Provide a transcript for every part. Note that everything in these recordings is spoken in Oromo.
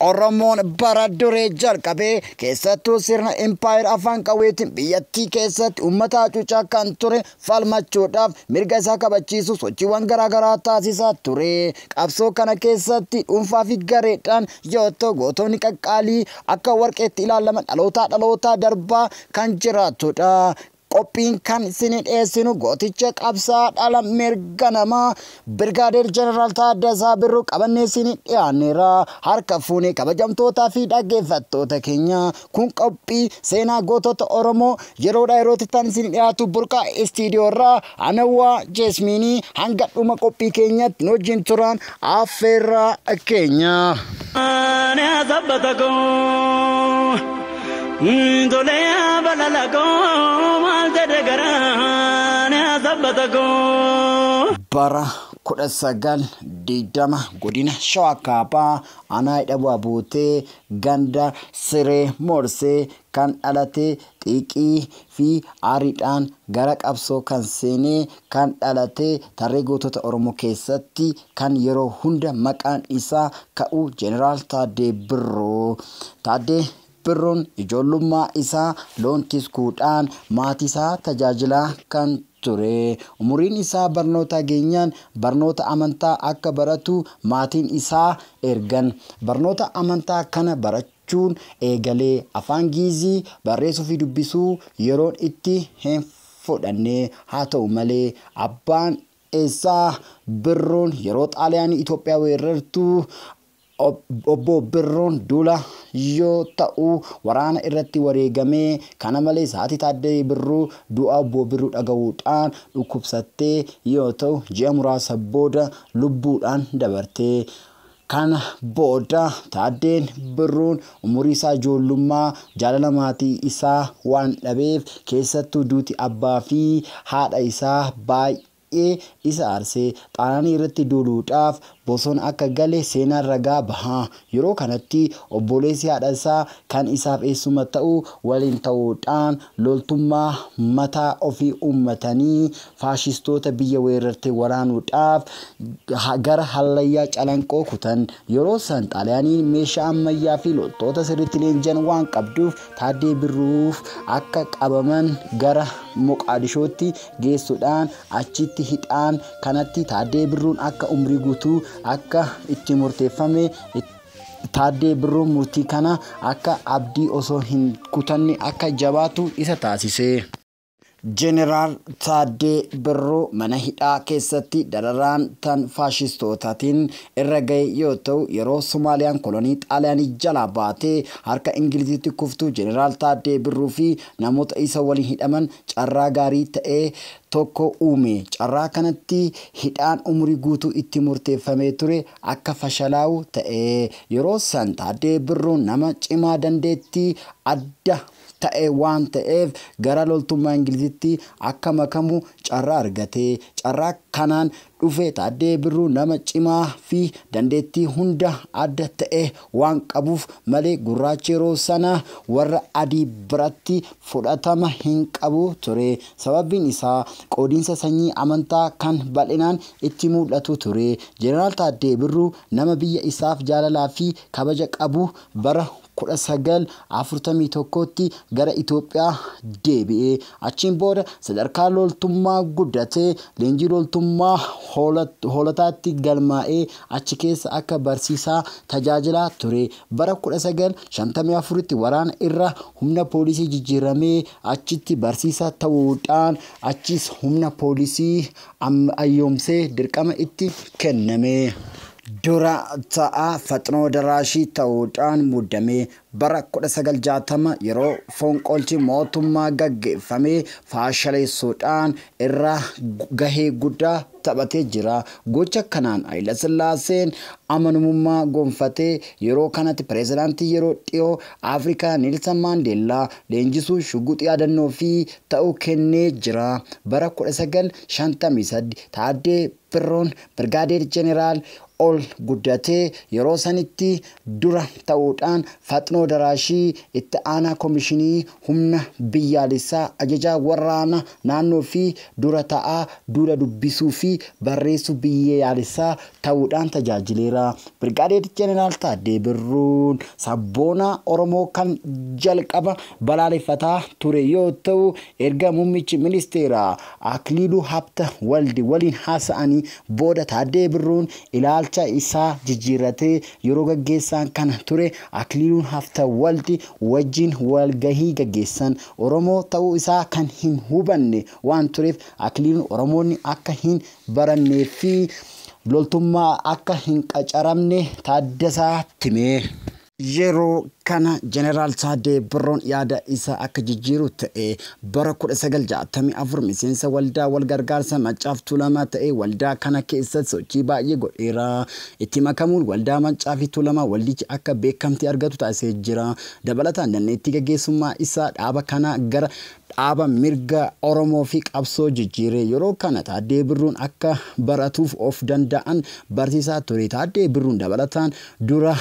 Oromoon bara duree jalqabee keessattuu sirna impaayera afaan qawweetiin biyyattii keessatti uummata hacuucaa kan ture falmachuudhaaf mirga isaa kabachiisu sochiiwwan garaagaraa taasisaa ture. Qabsoo kana keessatti dhuunfaa fi gareedhaan yoo ta'u gootonni qaqqaalii akka warqeetti ilaalaman dhalootaa dhalootaa darbaa kan jiraatudha. Qophiin kan isinii dhiyeessinu gooticha qabsaa dhala mirga namaa Birgaadeer Jeneraal Taaddasaa Birruu qabannee isinii dhiyaanneera. Harka fuunee kabajamtootaa fi dhaggeeffattoota keenya kun qophii seenaa gootota Oromoo yeroodha yerootti tan isinii dhiyaatu burqaa istiidiyoo irraa Anawwa Jeesmiini hanga dhuma qophii keenyatti nu wajjin turaan affeerraa keenya. Ani asabbata koo tolee abalala koo maal jedhe garaan asabbata koo. Bara 1920 godina Shawaa Kaabaa aanaa Hidhabuu Abuutee ganda Siree Moorsee kan dhalate xiiqii fi aariidhaan gara qabsoo kan seene, kan dhalate tarree gootota Oromoo keessatti kan yeroo hunda maqaan isaa ka'u Jeneraal Taaddee Birruu. Taaddee Birruun ijoollummaa isaa loon tiskuudhaan maatiisaa tajaajilaa kan ture. Umuriin isaa barnootaa geenyaan barnoota amantaa akka baratu maatiin isaa ergan. Barnoota amantaa kana barachuu. chuun eegalee. Afaan Giizii barreessuu fi dubbisuu yeroon itti hin fudhanne. Haa ta'u malee, abbaan isaa Birruun yeroo Xaaliyaanii Itoophiyaa weerrartu Obbo Birruun duula yoo ta'u waraana irratti wareegame. Kana malees haati Taaddayee Birruu du'a Obbo Birruu dhaga'uudhaan dhukkubsattee yoo ta'u ji'a muraasa booda lubbuudhaan dabarte. Kana booda Taaddeen Birruun umuriisaa ijoollummaa jaalala maatii isaa waan dhabeef, keessattuu duuti abbaa fi haadha isaa baay'ee isa aarse. Xaanaanii irratti duuluudhaaf bosona akka gale seenaan ragaa baha. Yeroo kanatti obbooleessi haadha isaa kan isaaf eessuma ta'u waliin ta'uudhaan loltummaa mataa ofii uummatanii faashistoota biyya weerarte waraanuudhaaf gara hallayyaa calanqoo kutan yeroo san xaaliyaaniin meeshaa ammayyaa fi loltoota sirriitti leenji'an waan qabduuf taaddee birruuf akka qabaman gara moqaadishootti geessuudhaan achitti hidhaan kanatti taaddee birruun akka umrii guutuu akka itti murteeffame taaddee birruun murtii kana akka abdii osoo hin kutanne akka jabaatu isa taasise. Jeneraal Taaddee Birruu mana hidhaa keessatti dararaan tan faashistootaatiin irra gahe yoo ta'u, yeroo Somaaliyaan kolonii Xaaliyaanii jalaa baatee harka Ingiliziitti kuftu Jeneraal Taaddee Birruu fi namoota isa waliin hidhaman carraa gaarii ta'e tokko uume. Carraa kanatti hidhaan umurii guutuu itti murteeffamee ture akka fashalaa'u ta'e. Yeroo san Taaddee Birruun nama cimaa dandeettii adda. ta'e waan ta'eef gara loltummaa Ingilizitti akka makamu carraa argate. Carraa kanaan dhufe Taaddee Birruu nama cimaa fi dandeettii hunda adda ta'e waan qabuuf malee gurraachi yeroo sana warra adii biratti fudhatama hin qabu ture. Sababbiin isaa qoodinsa sanyii amantaa kan bal'inaan itti mul'atu ture. Jeneraal Taaddee Birruu nama biyya isaaf jaalalaa fi kabaja qabu bara 19, 41tti gara Itoophiyaa deebi'e. Achiin booda sadarkaa loltummaa guddatee leenjii loltummaa hoolotaatti galmaa'ee achi keessa akka barsiisaa tajaajilaa ture. Bara 1954tti waraana irra humna poolisii jijjiiramee achitti barsiisaa ta'uudhaan achiis humna poolisii ayyoomsee dirqama itti kenname. Dura ta'aa Faxnoo Daraashii ta'uudhaan muudame. Bara 1960 yeroo fonqolchi mootummaa gaggeeffame faashaleessuudhaan irraa gahee guddaa taphatee jira. Gocha kanaan Hayilasillaaseen amanumummaa gonfatee yeroo kanatti pirezidaantii yeroo dhiyoo Afrikaa Neelsan Maandeellaa leenjisuu shuguxi yaadannoofi ta'uu kennee jira. Bara 1953 Taaddee Birruun Birgaadeer Jeneraal ol guddatee yeroo sanitti dura ta'uudhaan Faxnoo Daraashii itti aanaa komishinii humna biyyaalessaa, ajajaa warraana naannoo fi dura ta'aa duula dubbisuu fi barreessuu biyyeyaalessaa ta'uudhaan tajaajileera. Birgaadeer Jeneraal Taaddee Birruun sabboonaa Oromoo kan jalqaba balaaleffataa ture yoo ta'u, Erga muummichi ministeeraa Akliiluu Habta Waldi waliin haasa'anii booda Taaddee Birruun ilaalcha isaa jijjiirratee yeroo gaggeessaan kana ture Akliiluun Habta Waldi wajjin walgahii gaggeessan Oromoo ta'uu isaa kan hin hubanne waan tureef Akliiluun Oromoonni akka hin barannee fi loltummaa akka hin qacaramne Taaddasaatti hime. Yeroo kana Jeneraal Taaddee Birruun yaada isaa akka jijjiiru ta'e. Bara 1964 miseensa Waldaa Walgargaarsa Maccaaf Tuulamaa ta'ee waldaa kana keessatti sochii baay'ee godheera. Itti makamuun Waldaa Maccaafi Tuulamaa waldichi akka beekamtii argatu taasisee jira. Dabalataan dandeettii gaggeessummaa isaa dhaaba kanaa gara Dhaaba mirga Oromoo fi qabsoo jijjiire. Yeroo kana Taaddee Birruun akka baratuuf of danda'an barsiisaa ture. Taaddee Birruun dabalataan dura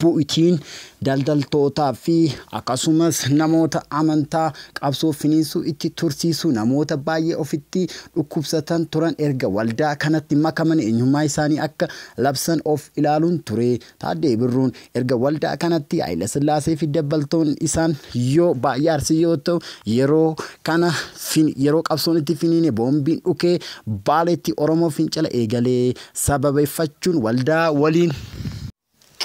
bu'itiin daldaltootaa fi akkasumas namoota amantaa qabsoo finiinsuu itti tursiisu namoota baay'ee ofitti dhukkubsatan turan erga waldaa kanatti makaman eenyummaa isaanii akka labsan of ilaaluun ture. Taaddee Birruun erga waldaa kanatti Hayilasillaasee fi dabbaltoonni isaan yoo baay'ee arsii yoo ta'u yeroo kana yeroo qabsoon itti finiine boombiin dhukee baaleetti Oromoo fincila eegalee sababeeffachuun waldaa waliin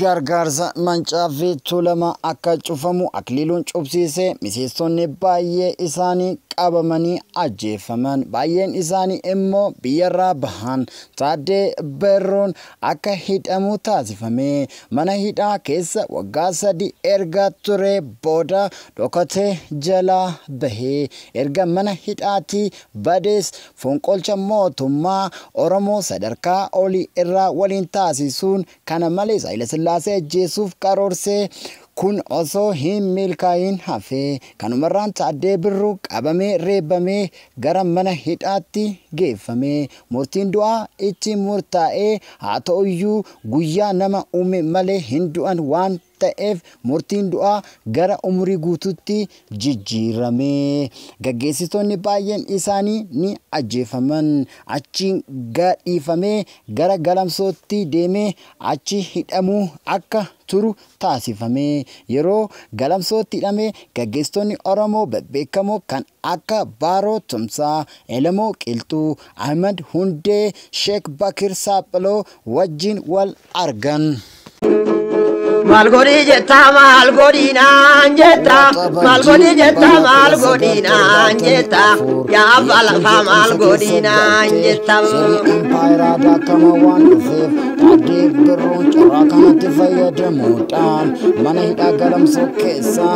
gargaarsa mancaa fi tuulama akka cufamu akliiluun cufsiisee miseessonni baay'ee isaanii qabamanii ajjeefaman baay'een isaanii immoo biyyarraa bahan taaddee birruun akka hidhamu taasifame. Mana hidhaa keessa waggaa sadii erga turee booda dhokatee jalaa bahe. Erga mana hidhaatii badees fonqolcha mootummaa Oromoo sadarkaa olii irraa waliin taasisuun kana malees Hayilasillaasee ajjeesuuf karoorse. Kun osoo hin milkaa'iin hafe. Kanumarraan Taaddee Birruu qabamee reebamee gara mana hidhaatti geeffame. Murtiin du'aa itti murtaa'ee, haa ta'uyyuu guyyaa nama uume malee hin du'an waan ta'eef murtiin du'aa gara umurii guutuutti jijjiirame. Gaggeessitoonni baay'een isaanii ni ajjeefaman. Achiin gadhiifamee gara Galamsootti deemee achi hidhamuu akka turu taasifame. Yeroo Galamsootti hidhame gaggeessitoonni Oromoo bebbeekamoo kan akka Baaroo Tumsaa, Elemoo Qilxuu, Ahimad Hundee, Sheek Bakir Saaphiloo wajjin wal argan. Maal godhii jetta maal godhii naan jetta maal godhii jetta maal godhii naan jetta yaa abbaa lafaa maal godhii naan jetta. Sirni impaayeraa daakama waan dhufeef addee birruun carraa kanatti fayyadamuudhaan mana hidhaa galamsoo keessaa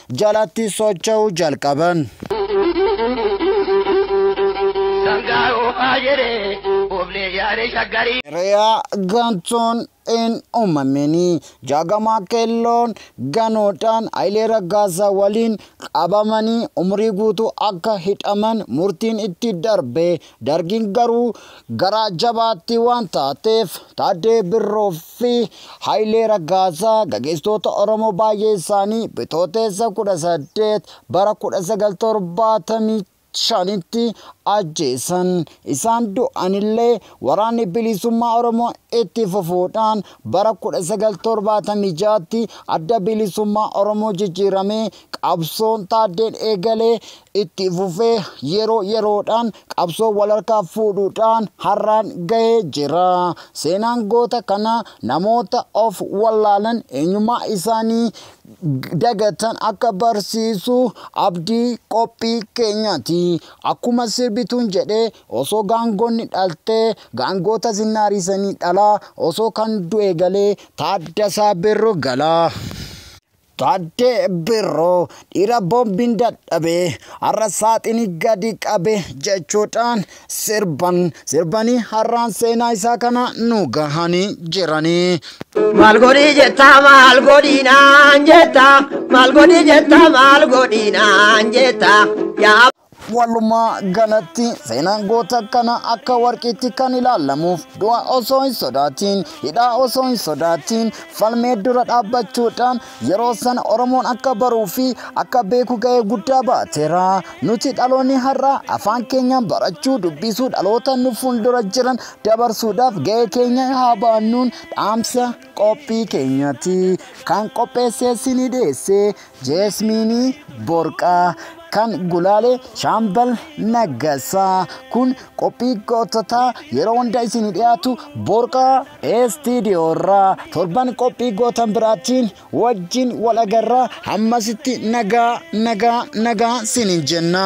jalatti socho'uu jalqaban. Sangaa oofaa jedhee ooflee yaadee shaggarii. Re'aa gantuun hin uumamini. Jaagamaa Keelloon ganuudhaan Hayilee Raggaasaa waliin qabamanii umurii guutuu akka hidhaman murtiin itti darbe. Dargiin garuu garaa jabaattii waan taateef Taaddee Birroof fi Hayilee Raggaasaa gageessitoota Oromoo baay'ee isaanii Bitooteessa 18 bara 1975tti ajjeesan. Isaan du'anillee waraanni bilisummaa Oromoo itti fufuudhaan bara 1976tti adda bilisummaa Oromoo jijjiiramee qabsoon Taaddeen eegalee itti fufee yeroo yeroodhaan qabsoo walharkaa fuudhuudhaan har'aan gahee jira. Seenaan goota kanaa namoota of wallaalan eenyummaa isaanii dagatan akka barsiisu abdii qophii keenyaati. Akkuma sirbituun jedhe osoo gaangonni dhaltee gaangoota zinnaariisanii dhalaa osoo kan du'e galee Taaddasaa Birru galaa. Taaddee Birruu dhiira boombiin dadhabe har'a saaxini gadi qabe jechuudhaan sirban sirbanii har'aan seenaa isaa kana nu gahanii jiranii. Maal godhi jetta maal godhi naan jetta maal godhi jetta maal godhi naan jetta yaa Walumaa galatti seenaan goota kana akka warqiitti kan ilaalamuuf du'a osoo hin sodaatiin hidhaa osoo hin sodaatiin falmee dura dhaabbachuudhaan yeroo san Oromoon akka baruu fi akka beeku ga'ee guddaa baateera. Nuti dhaloonni har'aa afaan keenyaan barachuu dubbisuu dhaloota nu fuuldura jiran dabarsuudhaaf ga'ee keenya haa baannuun dhaamsa. Qophii keenyatti kan qopheessee isinii dhiyeesse Jeesmiinii Borqaa kan gulaale Shaambal Naggasaa kun qophii goototaa yeroo hunda isinii dhiyaatu Borqaa Eestiidiyoo irraa torban qophii gootan biraatiin wajjin wal agarra hammasitti nagaa nagaa nagaa sinin jenna.